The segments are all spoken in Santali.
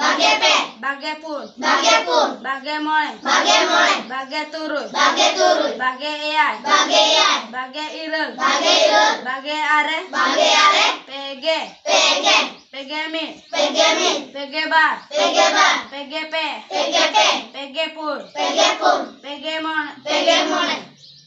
ᱵᱟᱜᱮ ᱯᱮ ᱵᱟᱜᱮ ᱯᱩᱱ ᱵᱟᱜᱮ ᱯᱩᱱ ᱵᱟᱜᱮ ᱢᱚᱬᱮ ᱵᱟᱜᱮ ᱢᱚᱬᱮ ᱵᱟᱜᱮ ᱛᱩᱨᱩᱭ ᱵᱟᱜᱮ ᱛᱩᱨᱩᱭ ᱵᱟᱜᱮ ᱮᱭᱟᱭ ᱵᱟᱜᱮ ᱮᱭᱟᱭ ᱵᱟᱜᱮ ᱤᱨᱟᱹᱞ ᱵᱟᱜᱮ ᱤᱨᱟᱹᱞ ᱵᱟᱜᱮ ᱟᱨᱮ ᱵᱟᱜᱮ ᱟᱨᱮ ᱯᱮᱜᱮ ᱯᱮᱜᱮ ᱯᱮᱜᱮ ᱢᱤᱫ ᱯᱮᱜᱮ ᱢᱤᱫ ᱯᱮᱜᱮ ᱵᱟᱨ ᱯᱮᱜᱮ ᱵᱟᱨ ᱯᱮᱜᱮ ᱯᱮ ᱯᱮᱜᱮ ᱯᱮ ᱯᱮᱜᱮ ᱯᱩᱱ ᱯᱮᱜᱮ ᱯᱩᱱ ᱯᱮᱜᱮ ᱢᱚᱬᱮ ᱯᱮᱜᱮ ᱢᱚᱬᱮ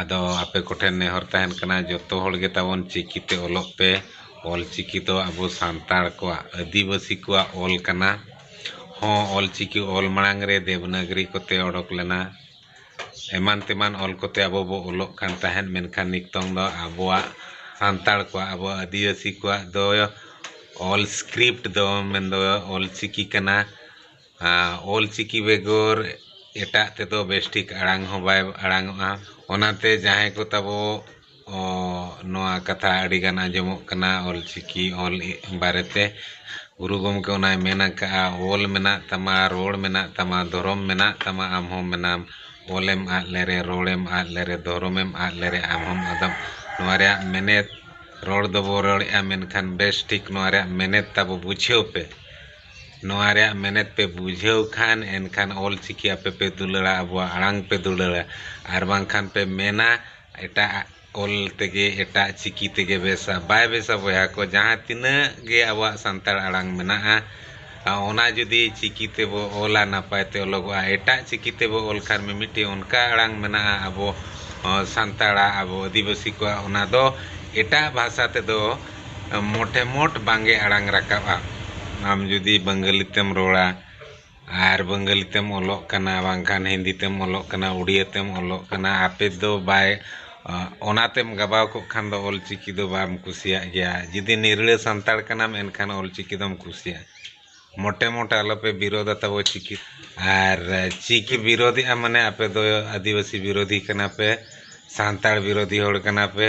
ᱟᱫᱚ ᱟᱯᱮ ᱠᱚᱴᱷᱮᱱ ᱱᱮᱦᱚᱨ ᱛᱟᱦᱮᱱ ᱠᱟᱱᱟ ᱡᱚᱛᱚ ᱦᱚᱲ ᱜᱮ ᱛᱟᱵᱚᱱ ᱪᱤᱠᱤ ᱛᱮ ᱚᱞᱚᱜ ᱯᱮ ᱚᱞ ᱪᱤᱠᱤ ᱫᱚ ᱟᱵᱚ ᱥᱟᱱᱛᱟᱲ ᱠᱚᱣᱟᱜ ᱟᱹᱫᱤᱵᱟᱹᱥᱤ ᱠᱚᱣᱟᱜ ᱚᱞ ᱠᱟᱱᱟ ᱦᱚᱸ ᱚᱞ ᱪᱤᱠᱤ ᱚᱞ ᱢᱟᱲᱟᱝ ᱨᱮ ᱫᱮᱵᱽᱱᱟᱜᱽᱨᱤ ᱠᱚᱛᱮ ᱚᱰᱚᱠ ᱞᱮᱱᱟ ᱮᱢᱟᱱ ᱛᱮᱢᱟᱱ ᱚᱞ ᱠᱚᱛᱮ ᱟᱵᱚ ᱵᱚ ᱚᱞᱚᱜ ᱠᱟᱱ ᱛᱟᱦᱮᱸᱫ ᱢᱮᱱᱠᱷᱟᱱ ᱱᱤᱛᱚᱝ ᱫᱚ ᱟᱵᱚᱣᱟᱜ ᱥᱟᱱᱛᱟᱲ ᱠᱚᱣᱟᱜ ᱟᱵᱚ ᱟᱹᱫᱤᱵᱟᱹᱥᱤ ᱠᱚᱣᱟᱜ ᱫᱚ ᱚᱞ ᱥᱠᱨᱤᱯᱴ ᱫᱚ ᱢᱮᱱᱫᱚ ᱚᱞ ᱪᱤᱠᱤ ᱠᱟᱱᱟ ᱚᱞ ᱪᱤᱠᱤ ᱵᱮᱜᱚᱨ ᱮᱴᱟᱜ ᱛᱮᱫᱚ ᱵᱮᱥ ᱴᱷᱤᱠ ᱟᱲᱟᱝ ᱦᱚᱸ ᱵᱟᱭ ᱟᱲᱟᱝᱚᱜᱼᱟ ᱚᱱᱟᱛᱮ ᱡᱟᱦᱟᱸᱭ ᱠᱚ ᱛᱟᱵᱚ ᱱᱚᱣᱟ ᱠᱟᱛᱷᱟ ᱟᱹᱰᱤ ᱜᱟᱱ ᱟᱸᱡᱚᱢᱚᱜ ᱠᱟᱱᱟ ᱚᱞ ᱪᱤᱠᱤ ᱚᱞ ᱵᱟᱨᱮ ᱛᱮ ᱜᱩᱨᱩ ᱜᱚᱢᱠᱮ ᱚᱱᱟᱭ ᱢᱮᱱ ᱟᱠᱟᱫᱼᱟ ᱚᱞ ᱢᱮᱱᱟᱜ ᱛᱟᱢᱟ ᱨᱚᱲ ᱢᱮᱱᱟᱜ ᱛᱟᱢᱟ ᱫᱷᱚᱨᱚᱢ ᱢᱮᱱᱟᱜ ᱛᱟᱢᱟ ᱟᱢ ᱦᱚᱸ ᱢᱮᱱᱟᱢ ᱚᱞᱮᱢ ᱟᱫ ᱞᱮᱨᱮ ᱨᱚᱲᱮᱢ ᱟᱫ ᱞᱮᱨᱮ ᱫᱷᱚᱨᱚᱢᱮᱢ ᱟᱫ ᱞᱮᱨᱮ ᱟᱢ ᱦᱚᱸᱢ ᱟᱫᱚᱜ ᱱᱚᱣᱟ ᱨᱮᱭᱟᱜ ᱢᱮᱱᱮᱛ ᱨᱚᱲ ᱫᱚᱵᱚ ᱨᱚᱲᱮᱫᱼᱟ ᱢᱮᱱᱠᱷᱟᱱ ᱵᱮᱥ ᱴᱷᱤᱠ ᱱᱚᱣᱟ ᱨᱮᱭᱟᱜ ᱢᱮᱱᱮᱛ ᱛᱟᱵᱚ ᱵᱩᱡᱷᱟᱹᱣ ᱯᱮ ᱱᱚᱣᱟ ᱨᱮᱭᱟᱜ ᱢᱮᱱᱮᱛ ᱯᱮ ᱵᱩᱡᱷᱟᱹᱣ ᱠᱷᱟᱱ ᱮᱱᱠᱷᱟᱱ ᱚᱞ ᱪᱤᱠᱤ ᱟᱯᱮ ᱯᱮ ᱫᱩᱞᱟᱹᱲᱟ ᱟᱵᱚᱣᱟᱜ ᱟᱲᱟᱝ ᱯᱮ ᱫᱩᱞᱟᱹᱲᱟ ᱟᱨ ᱵᱟᱝᱠᱷᱟᱱ ᱯᱮ ᱢᱮᱱᱟ ᱮᱴᱟᱜ ᱟᱜ ᱚᱞ ᱛᱮᱜᱮ ᱮᱴᱟᱜ ᱪᱤᱠᱤ ᱛᱮᱜᱮ ᱵᱮᱥᱟ ᱵᱟᱭ ᱵᱮᱥᱟ ᱵᱚᱭᱦᱟ ᱠᱚ ᱡᱟᱦᱟᱸ ᱛᱤᱱᱟᱹᱜ ᱜᱮ ᱟᱵᱚᱣᱟᱜ ᱥᱟᱱᱛᱟᱲ ᱟᱲᱟᱝ ᱢᱮᱱᱟᱜᱼᱟ ᱚᱱᱟ ᱡᱩᱫᱤ ᱪᱤᱠᱤ ᱛᱮᱵᱚ ᱚᱞᱟ ᱱᱟᱯᱟᱭ ᱛᱮ ᱚᱞᱚᱜᱚᱜᱼᱟ ᱮᱴᱟᱜ ᱪᱤᱠᱤ ᱛᱮᱵᱚ ᱚᱞ ᱠᱷᱟᱱ ᱢᱤᱢᱤᱫᱴᱤᱡ ᱚᱱᱠᱟ ᱟᱲᱟᱝ ᱢᱮᱱᱟᱜᱼᱟ ᱟᱵᱚ ᱥᱟᱱᱛᱟᱲᱟᱜ ᱟᱵᱚ ᱟᱹᱫᱤᱵᱟᱹᱥᱤ ᱠᱚᱣᱟᱜ ᱚᱱᱟ ᱫᱚ ᱮᱴᱟᱜ ᱵᱷᱟᱥᱟ ᱛᱮᱫᱚ ᱢᱚᱴᱮ ᱢᱚᱴ ᱵᱟᱝᱜᱮ ᱟᱲᱟᱝ ᱨᱟᱠᱟᱵᱼᱟ᱾ ᱟᱢ ᱡᱩᱫᱤ ᱵᱟᱝᱜᱟᱞᱤ ᱛᱮᱢ ᱨᱚᱲᱟ ᱟᱨ ᱵᱟᱝᱜᱟᱞᱤ ᱛᱮᱢ ᱚᱞᱚᱜ ᱠᱟᱱᱟ ᱵᱟᱝᱠᱷᱟᱱ ᱦᱤᱱᱫᱤ ᱛᱮᱢ ᱚᱞᱚᱜ ᱠᱟᱱᱟ ᱩᱰᱤᱭᱟᱹ ᱛᱮᱢ ᱚᱞᱚᱜ ᱠᱟᱱᱟ ᱟᱯᱮ ᱫᱚ ᱵᱟᱭ ᱚᱱᱟ ᱛᱮᱢ ᱜᱟᱵᱟᱣ ᱠᱚᱜ ᱠᱷᱟᱱ ᱫᱚ ᱚᱞ ᱪᱤᱠᱤ ᱫᱚ ᱵᱟᱢ ᱠᱩᱥᱤᱭᱟᱜ ᱜᱮᱭᱟ ᱡᱩᱫᱤ ᱱᱤᱨᱲᱟᱹ ᱥᱟᱱᱛᱟᱲ ᱠᱟᱱᱟᱢ ᱮᱱᱠᱷᱟᱱ ᱚᱞ ᱪᱤᱠᱤ ᱫᱚᱢ ᱠᱩᱥᱤᱭᱟᱜᱼᱟ᱾ ᱢᱚᱴᱮ ᱢᱚᱴᱮ ᱟᱞᱚᱯᱮ ᱵᱤᱨᱳᱫᱟ ᱛᱟᱵᱚ ᱪᱤᱠᱤ ᱟᱨ ᱪᱤᱠᱤ ᱵᱤᱨᱳᱫᱮᱜᱼᱟ ᱢᱟᱱᱮ ᱟᱯᱮ ᱫᱚ ᱟᱹᱫᱤᱵᱟᱹᱥᱤ ᱵᱤᱨᱳᱫᱷᱤ ᱠᱟᱱᱟ ᱯᱮ ᱥᱟᱱᱛᱟᱲ ᱵᱤᱨᱳᱫᱷᱤ ᱦᱚᱲ ᱠᱟᱱᱟ ᱯᱮ